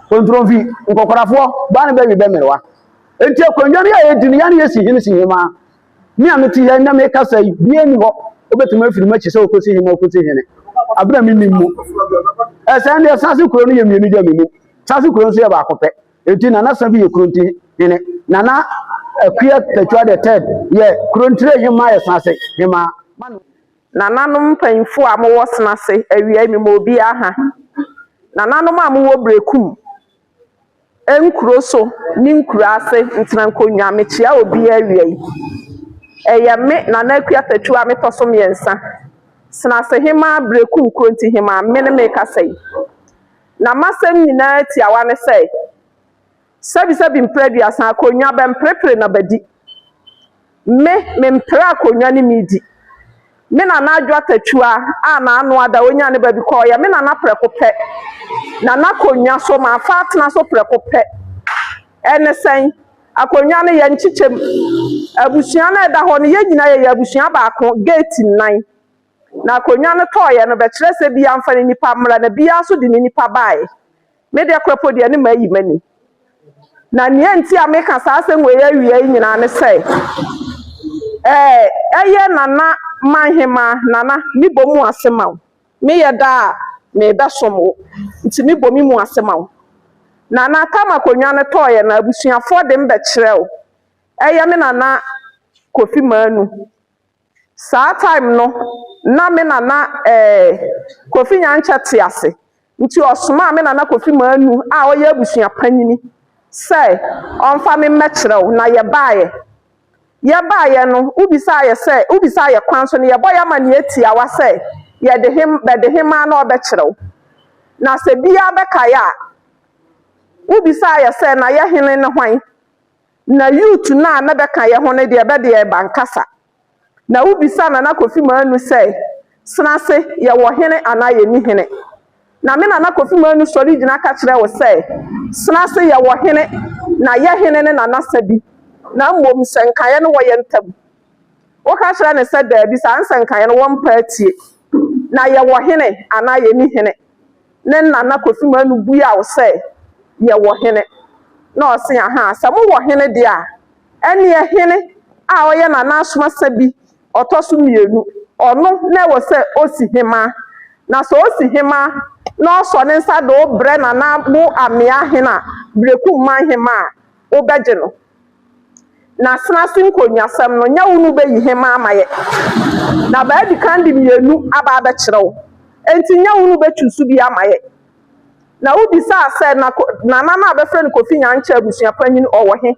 Kontromfi, nkɔkorafoɔ, baa ne bɛwe bɛmmerewa. Enti akonnwa no yɛ a yɛdi no, yɛne yɛsi hene si hemaa. Me a mete ha na mekasa yi, bia ni hɔ wobɛtumi afiri m'akyi sɛ ɔkɔsi hene ɔkɔsi hene abena menim mu ɛsɛn deɛ sase kuro no yɛ mmienu gya menim sase kuro nso yɛ baako pɛ enti nana sa bi yɛ kuro nti hene nana akua tatwa the third yɛ kuro ntire hema yɛ sase hema nananom mpanyinfo a mowɔ senase awia yi mema obiara ha nananom a mowɔ brekum nkuro so ne nkuraase ntena nkonnwa. Mekyia obiara awia yi. Ɛyɛ me Nana Aku Atɛtwi a metɔ so mmiɛnsa, Senasehemaa Berekum Nkurontihemaa, me ne merekasa yi. Na m'asɛm nyinaa tiawa ne sɛ, Sɛbisɛbi mprɛ aduasa, akonnwa bɛmprepre na bɛdi. Me, mempere akonnwa ne medi. Me nana Adwo Atatua a n'ano ada, ɔnyaa ne baabi kɔɔ. Ɔyɛ me nana prɛko pɛ. Na n'akonnwa so, mafa atena so prɛko pɛ. Ɛne sɛn? Akonnwa no, yɛnkyekyɛ mu. Abusua no a ɛda hɔ no, yɛn nyinaa yɛyɛ abusua baako, gate nnan. Na akonnwa no tɔeɛ no, bɛkyerɛ sɛ biara mfa ne nipa mmra, na biara nso de ne nipa baeɛ. Me deɛ kora po deɛ ne mayi m'ani. Na nea nti a meka saa asɛm wei awia yi nyinaa ne sɛ, ɛɛ, ɛyɛ Nana Manhemaa, Nana, mebɔ mu ase ma wo. Meyɛ da a, mebɛsom wo, nti mebɔ me mu ase ma wo. Nana, tam akonnwa no tɔeɛ no, abusuafoɔ de me bɛkyerɛ wo. Ɛyɛ me Nana Kofi Manu. Saa time no na me nana eh, Kofi Nyankyɛ te ase nti ɔsomaa me nana Kofi Manu a ɔyɛ abusua panyini sɛ ɔmfa me mmɛkyerɛ wo na yɛbaeɛ. Yɛbaeɛ no wobisaa yɛ sɛ wobisaa yɛ kwan so no yɛbɔ yɛ amaneɛ tiawa sɛ yɛde he bɛde hemaa na ɔbɛkyerɛ wo na sɛ biaa bɛkae a wobisaa yɛ sɛ na yɛ hene ne hwan? na youth no a na bɛka yɛ ho no deɛ bɛ deɛ ɛba nkasa. Na wobisa Nana Kofi Manu sɛ, Senase, yɛwɔ hene anaa yɛnni hene? Na me Nana Kofi Manu sɔre gyina ka kyerɛ wo sɛ, Senase, yɛwɔ hene, na yɛ hene no na nasa bi, na mmom sɛ nkaeɛ no wɔ yɛ ntam Woka kyerɛ no sɛ, Dabi, saa nsɛ nkaeɛ no wɔmpa atie. Na yɛwɔ hene anaa yɛnni hene? Ne nana Kofi Manu bua wo sɛ, Yɛwɔ hene. Na ɔse, Ahaa, sɛ mowɔ hene deɛ a, ɛnneɛ hene a ɔyɛ Nana Asomasa bi, ɔtɔ so mmienu, ɔno na ɛwɔ sɛ ɔsi hemaa. Na sɛ ɔsi hemaa na ɔsɔ ne nsa de wo brɛ Nana Boa Amea Hene a, Berekum Man Hemaa a, wobɛgye no? Na asenase nkonnwasɛm no, nyɛ wo na wubeyi hemmaa ma yɛn, na wɔadi kan de mmienu aba abɛkyerɛ wo. Enti nyɛ wo na wubekyuusu bi ama yɛn. Na wobisaa sɛ, Na Ko, Nana no a wɔfrɛ no Kofi Nyankyɛ abusua panyin, ɔwɔ he?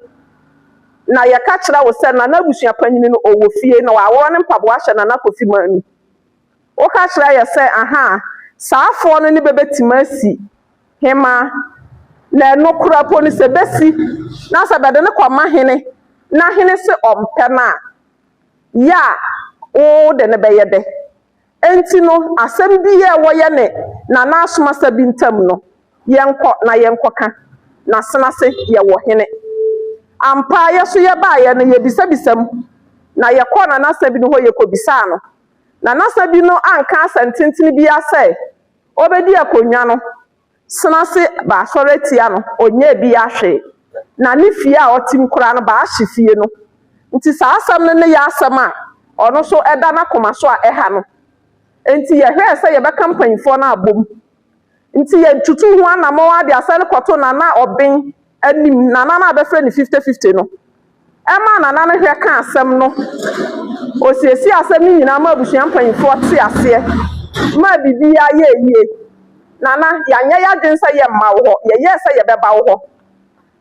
Na yɛka kyerɛɛ wo sɛ, Nana abusua panyin no, ɔwɔ fie, na wɔaworɔ ne mpaboa ahyɛ Nana Kofi Manu. Woka kyerɛ yɛ sɛ, Ahaa, saafoɔ no ne bɛbɛtim asi hemaa, na nokorɛ mpo no sɛ bɛsi, na sɛ bɛde no kɔma hene, na hene se ɔmpɛ no a, yɛ a wo wode no bɛyɛ dɛ? Enti no, asɛm biaa a ɛwɔ yɛne Nana Asomasa bi ntam no, yɛnkɔ na yɛnkɔka, na sena se yɛwɔ hene. Ampa ara yɛ nso yɛbaeɛ no, yɛbisabisa mu, na yɛkɔɔ Nana Asɛbi no hɔ yɛkɔbisaa no. na n'asa bi no anka asɛntenten biara sɛ obedi akonnwa no so ase baasɔre atia no, ɔnyɛɛ biara hwee, na ne fie a ɔte mu koraa no baahye fie no. Enti saa asɛm no ne yɛ asɛm a ɔno nso ɛda n'akoma so a ɛha no. Enti yɛhwɛɛ sɛ yɛbɛka mpanimfoɔ no abom. Enti yɛtutuu ho anammɔn ara de asɛm no kɔtoo Nana Obeng anim nana no a bɛfrɛ no Fifty Fifty no maa nana no hwɛ kaa asɛm no. Ɔsiesiee asɛm no nyinaa maa abusua mpanimfoɔ tee aseɛ maa biribiara yɛɛ yie. Nana, yɛanyɛ yɛn adwene sɛ yɛremma wo hɔ, yɛyɛɛ sɛ yɛbɛba wo hɔ.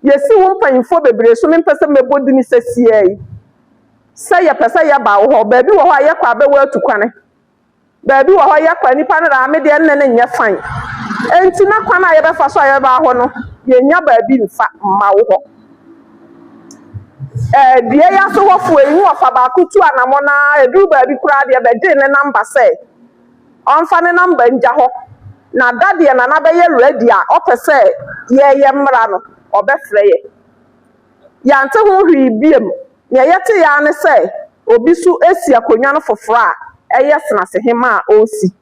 Yɛasi wo mpanimfoɔ bebree so, mempɛ sɛ mɛbɔ din seesei, sɛ yɛpɛ sɛ yɛba wo hɔ. Baabi wɔ hɔ a yɛkɔ a bɛwɔ atukwane. Baabi wɔ hɔ yɛ kwa, nnipa no daa me deɛ nne no nyɛ fann. Enti na kwan a yɛbɛfa so a yɛbɛba hɔ no, yɛnnya baabi mfa mma wo hɔ. Ɛɛ, dua yi ase hɔfoɔ yi, ne ɔfa baako tu anamɔn ara, ɛduru baabi koraa deɛ, bɛgyee ne nɔmba sɛ ɔmfa ne nɔmba ngya hɔ, na da deɛ Nana bɛyɛ rɛdi a ɔpɛ sɛ yɛyɛ mmra no, ɔbɛfrɛ yɛ. Yɛante ho hwee biom, Nea yɛtee ara ne sɛ obi nso resi akonnwa no foforo a ɛyɛ Senase Hema a ɔresi.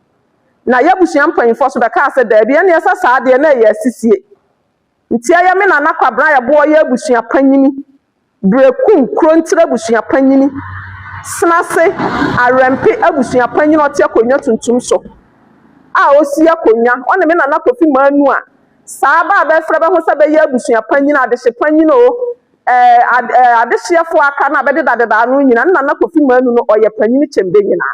Na y'abusua mpanyimfo nso bɛkaa sɛ, Dabi, ɛnneɛ sɛ saa deɛ na ɛyɛ asisie. Nti ɛyɛ me Nana Kwabena a yɛboa ɔyɛ abusua panyini, Berekum Kronkyere abusua panyini, Senase Awɛmpe abusua panyini a ɔte akonnwa tuntum so a ɔresi akonnwa, ɔne me Nana Kofi Manu a saa bɛ a bɛrefrɛ bɛ ho sɛ bɛyɛ abusua panyini, adehye panyini oo, Ɛɛ ɛɛ adehyeɛ foɔ aka no a bɛdeda deda ano nyina ne nana kofi manu no ɔyɛ panyini kyɛn bɛnyina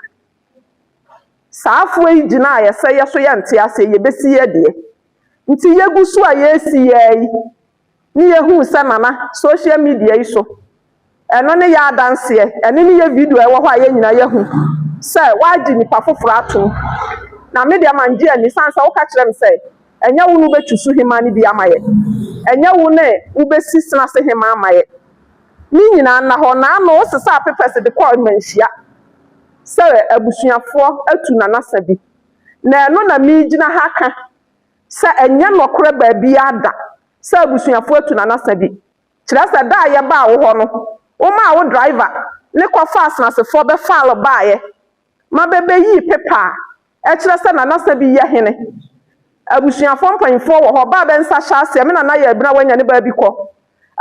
saa foɔ yi gyina a yɛsɛ yɛ so yɛ nte aseɛ yɛ bɛsi yɛ deɛ nti yɛ gu so a yɛ si yɛ yi ne yɛ huu sɛ nana social media yi so ɛno ne yɛ adanseɛ ɛne ne yɛ video ɛwɔ hɔ a yɛ nyina yɛ hu sɛ wagye nipa foforɔ atom na me deɛ mangye ani sane sɛ woka kyerɛ me sɛ. Ɛnyɛ wo na wobɛtu suhemmaa no bi ama yɛn, ɛnyɛ wo na wobɛsi senase hemmaa ama yɛn. Ne nyinaa nna hɔ, naano wosesaa pepɛs de kɔɔ mmanhyia sɛ abusuafoɔ atu nanasa bi. Na ɛno na meregyina ha aka sɛ ɛnyɛ nɔkorɛ baabiara da sɛ abusuafoɔ atu nanasa bi. Kyerɛ sɛ da a yɛbaa wo hɔ no, womaa wo driver ne kɔfaa senasefoɔ bɛfaa lo baaeɛ ma bebeyii pepa a ɛkyerɛ sɛ Nana Sabi yɛ hene. Abusuafoɔ mpanyinfoɔ wɔ hɔ, bɛ a bɛ nsa hyɛ aseɛ, me Nana yɛ abina wanya ne ba bi kɔ.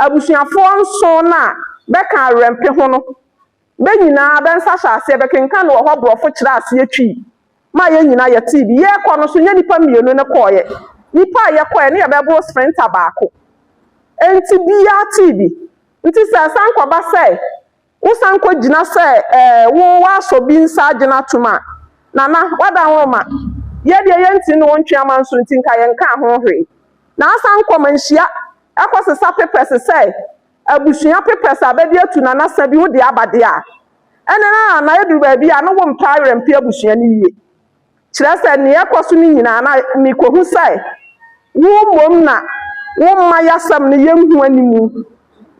Abusuafoɔ nson no a bɛka Awerɛmpe ho no, bɛ nyinaa bɛ nsa hyɛ aseɛ, bɛkenkan no wɔ hɔ, borɔfo kyerɛ aseɛ twi maa yɛ nyinaa yɛtee bi. Yɛɛkɔ no nso, nyɛ nipa mmienu ne kɔɔeɛ, nipa a yɛkɔɔeɛ no yɛ bɛboro sprinter baako. Enti biaa tee bi. Nti sɛ ɛsan kɔba sɛ wosan kogyina sɛ ɛɛ wo woasɔ bi nsa agyina atom a, Nana, woada nwoma. Yɛ deɛ yɛnte ne wo ntwe amanso nti nka yɛnkaa ho hwee. Na asan kɔ manhyia kɔsesa pepɛse sɛ abusua pepɛse a bɛde atu Nana sa bi wode aba deɛ a. Ɛnde na Nana ɛduru baabi a na wompɛ awerɛmpe abusua no yie. Kyerɛ sɛ, nea ɛkɔ so no nyinaa, na mikohu sɛ wo mmom na womma yasɛm no yɛ nhu animu.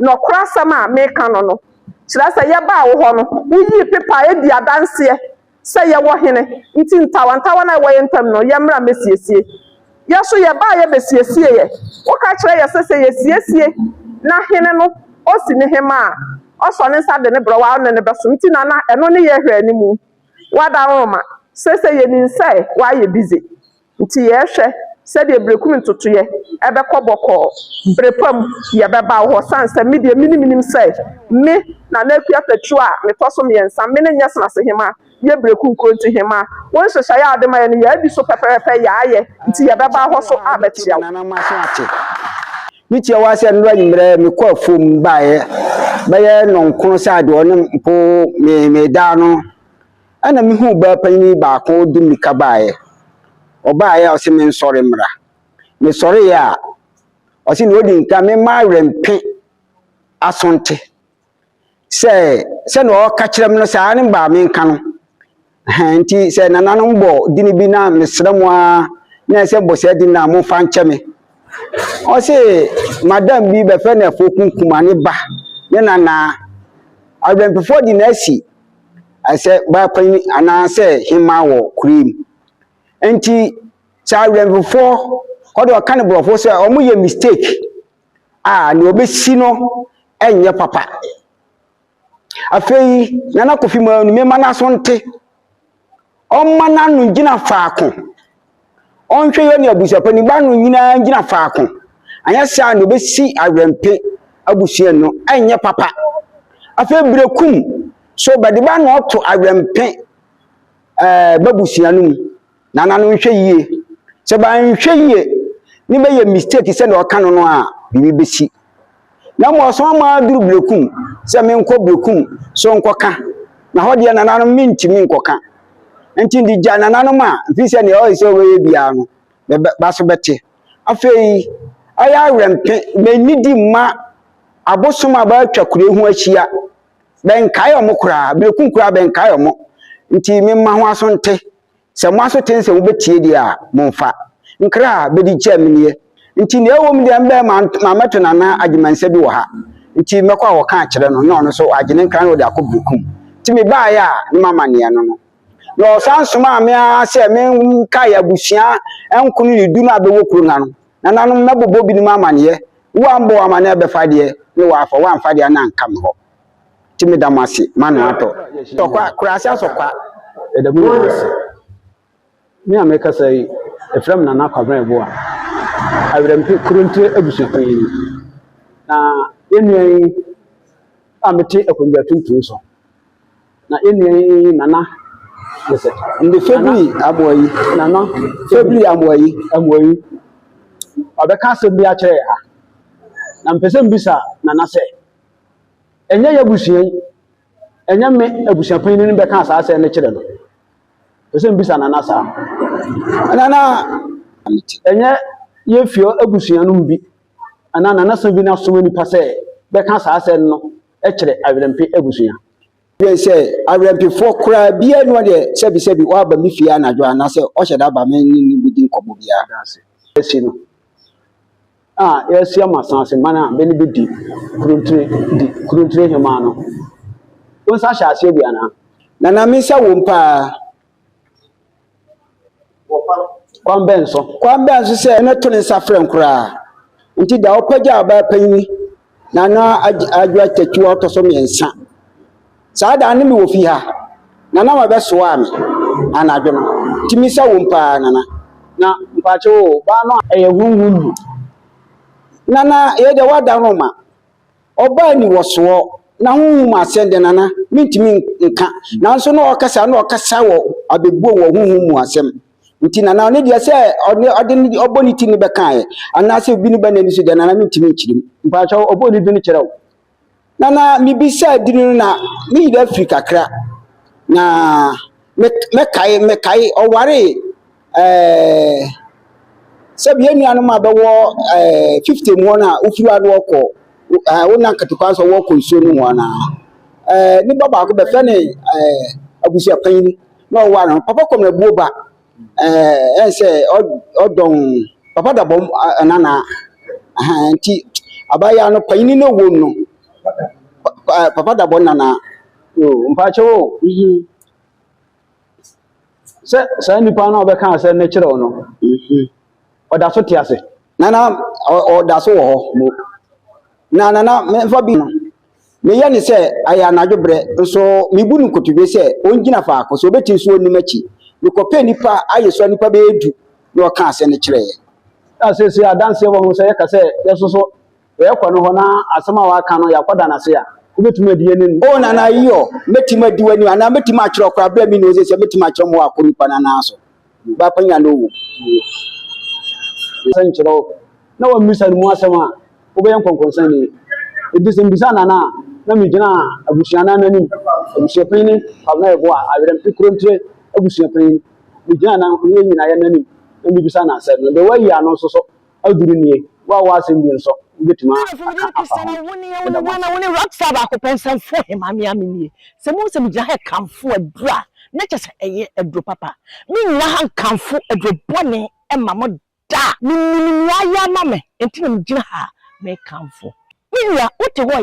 Nɔkora asɛm a meka no no, kyerɛ sɛ, yɛbaa wo hɔ no, woyii pepa a edi adanseɛ sɛ yɛwɔ hene, nti ntawantawana a ɛwɔ yɛn ntam no, yɛmmra mmɛsiesie. Yɛn nso yɛbaa yɛ bɛsiesieɛ. Woka kyerɛ yɛ sɛ, sɛ yɛsiesie na hene no osi ne hema a, ɔsɔ ne nsa de ne brɛwa ne no bɛsom, nti na na ɛno ne yɛrehwɛ animu. Wada nworoma. Seesei yenim sɛ wayɛ busy, nti yɛrehwɛ sɛdeɛ Berekum ntotoeɛ ɛbɛkɔ bɔkɔɔ. Bere pa mu, yɛbɛba wo hɔ sane sɛ me deɛ menim menim sɛ me, Nana Akua Tatuo a metɔ so mmiɛnsa, me ne Nyɛsenase Hema yɛ Berekum nkuro nti Hema, wo nhyehyɛeɛ a wode ma yɛn no, yɛadi so pɛpɛɛpɛ, yɛayɛ, nti yɛbɛba hɔ so abɛkyea wo. Me tie w'asɛm no anwummerɛ me kɔ afuom baeɛ bɛyɛ nɔnkono sɛ adeɛ ɔne mpo me me daa no ɛna me hu baa panyin baako de mmirika baeɛ ɔbaeɛ a ɔsɛ me nsɔre mmra me sɔreeɛ a ɔsɛ na ɔdi nka me ma awɛmpe asonte sɛ sɛnea ɔreka kyerɛ me no saa ara ne baa me nka no hɛn nti sɛ nananom bɔ din bi na mesrɛ mo ara na ɛsɛ bɔ saa din na momfa nkyɛ me ɔse madam bi bɛfɛ na ɛfo kunkuma ne ba ne nanaa adwampefo di na asi ɛsɛ baapanyin anaasɛ hema wɔ kuro mu nti sɛ adwampefo ɔde ɔka ne borɔfo sɛ wɔyɛ mistake a nea obesi no nyɛ papa. Afei Nana Kofi Manu mema no aso nte. Ɔmma n'ano ngyina faako. Ɔnhwɛ yɛne abusuapɔ no ba ano nyinaa ngyina faako. Anyɛ saa a nea obesi Awɛmpe abusua no nyɛ papa. Afei Berekum so bɛde ba ano ato Awɛmpe ɛɛ b'abusua no mu. Nana no nhwɛ yie. Sɛ banhwɛ yie ne bɛyɛ mistake sɛdeɛ ɔka no no a, biribi bɛsi. Na mmom ɔsoma ma aduru Berekum sɛ menkɔ Berekum so nkɔka. Na hɔ deɛ Nana no mentumi nkɔka. Nti de gya Nana no ma mfiri sɛ deɛ ɔyɛ sɛ ɔbɛyɛ biara no me ba so bɛte. Afei ɛyɛ awerɛmpe mennidi mma abosom a bɛatwa kuro ho ahyia bɛnkae wɔn koraa. Berekum koraa bɛnkae wɔn. Nti memma ho aso nte. Sɛ mo aso te nsɛ mobɛtie deɛ a, momfa. Nkra a bɛdi kyɛɛ me nie, nti nea ɛwɔ mu deɛ mbɛɛ mammɛto no anaa agyemansa bi wɔ ha, nti mɛkɔ awɔka akyerɛ no na ɔno nso wagye ne nkra na ɔde akɔ Berekum. Nti mebaeɛ a ne mamanneɛ no no. Na ɔsan somaa me ara sɛ menkae abusua nkono ne du no a bɛwɔ kuro no ano, nananom mmɛbobɔ binom amanneɛ, woammɔ w'amanneɛ bɛfa deɛ ne woafa, woamfa deɛ a na anka me hɔ. Nti meda mo ase ma no atɔ. Tɔ kwa, kura ase asɔ kwa. Yɛda mo nyinaa ase. Me a mekasa yi, ɛfrɛ me Nana Kwabena Ɛboa, Awerɛmpe Kurontire abusuakuo yi ni. Na yɛn nua yi a mete akonnwa tuntum so, na yɛn nua yi Nana Mesɛ. Nde Febiri Amoa yi. Nana Febiri Amoa yi. Amoa yi. Ɔbɛka asɛm bi akyerɛ yɛ ha. Na mpɛ sɛ mbisa Nana sɛ. Ɛnyɛ y'abusua yi, ɛnyɛ me abusuapanyin no bɛka saa asɛm no kyerɛ no. Ɛsɛ mbisa nana saa. Nana, ɛnyɛ yɛn fie abusua no mu bi anaa nanasa bi na asoma nipa sɛ bɛka saa asɛm no kyerɛ awerɛmpe abusua. Dwen sɛ awerɛmpefoɔ koraa biara ni hɔ deɛ sɛbisɛbi waba me fie anadwo anaasɛ ɔhyɛ da ba me ne no bɛdi nkɔmmɔ biara. Asi no. a yɛasi ama asase man a bɛ ne bɛ di kuruntire di kuruntire hemaa no. Wo nsa hyɛ aseɛ bi anaa? Nana me nsa wom paa. Kwan bɛn so? Kwan bɛn so sɛ ɛno to ne nsa frɛ nkoraa nti da wopagya a wobɛyɛ panyin Nana Adj Adwoa Tatu a ɔtɔ so mmiɛnsa. Saa da no na mewɔ fie ha. Nana ma bɛsoaa me anadwo no. Nti misa wom paa Nana. Na mpakyɛ o, baa no a. Ɛyɛ honhom mu. Nana yei deɛ woada no ma. Ɔbaa ni wɔ soɔ. Na honhom mu asɛm deɛ Nana mentumi nka. Nanso na ɔkasa na ɔkasa wɔ abɛbuo wɔ honhom mu asɛm. nti na na ɔne deɛ sɛ ɔne ɔde ne ɔbɔ ne ti ne bɛkaeɛ anaasɛ obi ne bɛ n'ani so deɛ na na mentumi nkyerem mpakyɛ ɔbɔ ne dwene kyerɛ wo na na mebisaa dini no na ne yere afiri kakra na mɛkae mɛkae ɔware ɛɛ sɛ bia nuanom a bɛwɔ ɛɛ fifty mu hɔ no a wofiri ano ɔkɔ ɛɛ wona nkatekwa nso wɔkɔ nsuo no mu anaa ɛɛ nipa baako bɛfɛ ne ɛɛ abusuapanyin na ɔwa no papa kɔm na buo ba ɛɛ sɛ ɔdɔn papa da bɔm ɛnana ɛhɛn nti abaayewa no panyin no wɔm no papa da bɔm nana o mpakyɛw o mhm sɛ saa nipa no a ɔbɛka sɛ ne kyerɛw no mhm ɔda so te ase nana ɔda so wɔ hɔ mo na nana mɛfa bi no. Meyɛ no sɛ ɛyɛ anadwo berɛ, nso mebu no nkotodwe sɛ ɔngyina faako, sɛ ɔbɛtumi nso ɔnni m'akyi. Mekɔpɛɛ nnipa ayɛ sua nnipa bɛyɛ du na ɔkaa asɛm no kyerɛɛ yɛn. Na seesei adanseɛ wɔ ho sɛ yɛka sɛ yɛso so yɛkɔ no hɔ na asɛm a waka no yɛakɔda no ase a, wobɛtumi adi yɛn anim. O Nana Io, mɛtumi adi w'anim anaa mɛtumi akyerɛ wo koraa berɛ a menni hɔ seesei a mɛtumi akyerɛ mo wɔ akɔ nnipa no anaa so. W'akwannya no wɔ mu. Sɛ nkyerɛw na wɔmmisa no mu asɛm a, wobɛyɛ nkɔnkɔnsani. Enti sɛ mbisa na na na megyina abusuanan no anim, abusuapanyin ne Kwabena Yeboah, Awerɛmfi Kurontire abusuapanyin, megyina na yɛn nyinaa yɛn anim na mibisa no asɛm no. Deɛ wayi ano nso so, Aduru nie, wo a w'asɛm bi nsɔ, wobɛtumi aka afa ho? Meda mo ase. Wone rockstar baako pɛ nsɛmfoɔ hemmaa me ara me nie. Sɛ mohu sɛ me gyina ha rekamfo aduro a na kyerɛ sɛ ɛyɛ aduro papa. Me nnyina ha nkamfo aduro bɔne mma mo da. Me nim nea ayɛ ama me nti na me gyina ha me rekamfo. Me nua wo te hɔ a.